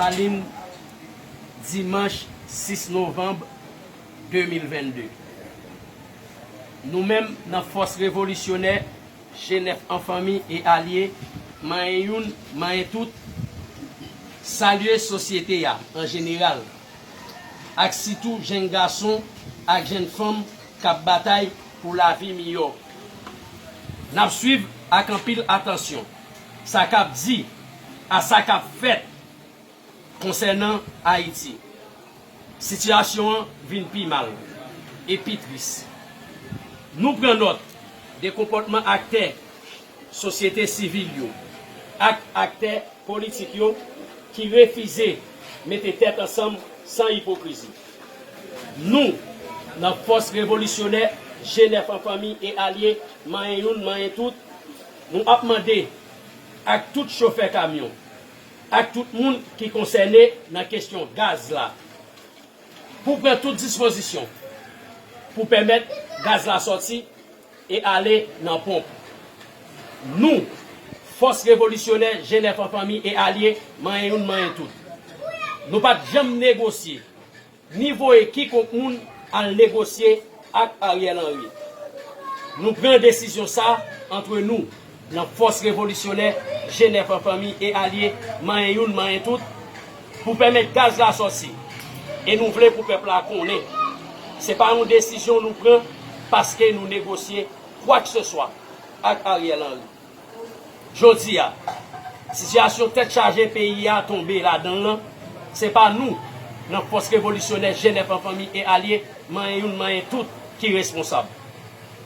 Lasalin, dimanch 6 novanm 2022. Nou menm nan fòs revolisyonè Jenèf an fanmi e alye, manyen youn, manyen tout, salye sosyete a an jeneral, ak sitou jenn gason ak jenn fanm k ap batay pou lavi miyò. N ap swiv ak anpil atansyon sa k ap di a sa k ap fèt konsènan Ayiti. Sitiyasyon an vin pi mal e pi tris. Nou pran nòt de konpòtman aktè. sosyete sivil yo ak aktè politik yo ki refize mete tèt ansanm san ipokrizi. Nou, nan Fòs Revolisyonè Jenèf an Fanmi e Alye Manyen Youn Manyen Tout, nou ap mande ak tout chofè kamyon, ak tout moun ki konsène nan kesyon gaz la, pou pran tout dispozisyon pou pèmèt gaz la sòti e ale nan ponp. Nou, fòs revolisyonè Jenèf an fanmi e alye, manyen youn manyen tout. Nou pa t janm negosye, ni voye kikonk moun al negosye ak Ariel Henry. Nou pran desizyon sa antre nou. Nan fòs revolisyonè, Jenèf an fanmi e alye, manyen youn manyen tout, pou pèmèt gaz la sòti. E nou vle pou pèp la konnen, se pa yon desizyon nou pran paske nou negosye kwakseswa ak Ariel Henry. Jodi a, sitiyasyon tèt chaje peyi a tonbe ladan l lan, se pa nou, nan fòs revolisyonè, Jenèf an fanmi e alye, manyen youn manyen tout, ki responsab.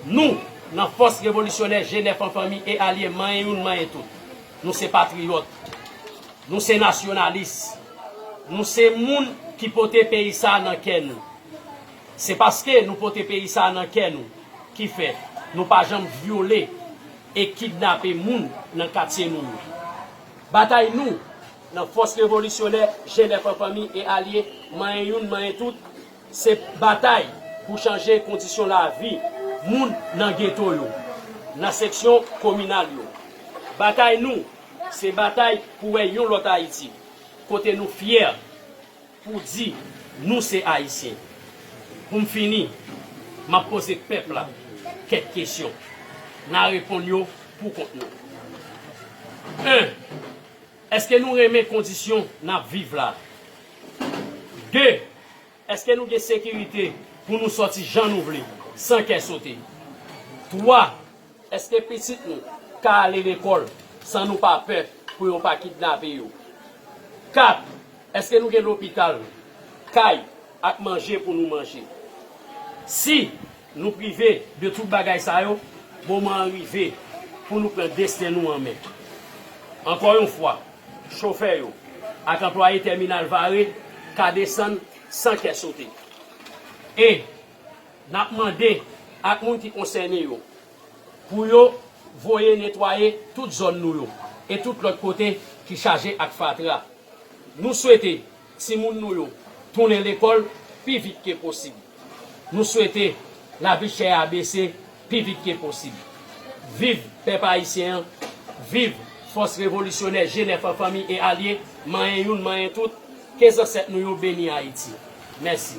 Nou, nan Fòs Revolisyonè Jenèf an Fanmi e Alye manyen youn manyen tout, nou se patriyòt, nou se nasyonalis, nou se moun ki pote peyi sa a nan kè nou. Se paske nou pote peyi sa a nan kè nou ki fè nou pa janm vyole e kidnape moun nan katye nou yo. Batay nou, nan Fòs Revolisyonè Jenèf an Fanmi e Alye manyen youn manyen tout, Se batay pou chanje kondisyon lavi moun nan geto yo, nan seksyon kominal yo. Batay nou, se batay pou wè yon lòt Ayiti, kote nou fyè pou di nou se Ayisyen. Pou m fini, m ap poze pèp la kèk kesyon. N a reponn yo pou kont nou. 1. Èske nou renmen kondisyon n ap viv la? 2, Èske nou gen sekirite pou nou sòti jan nou vle, san kè sote? 3, Èske pitit nou ka ale lekòl san nou pa pè pou yo pa kidnape yo? 4, Èske nou gen lopital, kay ak manje pou nou manje? Si. Nou prive de tout bagay sa yo, moman an rive pou nou pran desten nou an men. Ankò yon fwa, chofè yo ak anplwaye tèminal Vare ka desann san kè sote. E, n ap mande ak moun ki konsène yo pou yo voye netwaye tout zòn nou yo e tout lòt kote ki chaje ak fatra. Nou swete Timoun nou yo tounen lekòl pi vit ke posib. Nou swete lavi chè a bese pi vit ke posib. Viv pèp ayisyen an, viv fòs revolisyonè Jenè Fò Fanmi e Alye, manyen youn manyen tout, ke zansèt nou yo beni Ayiti. Mèsi.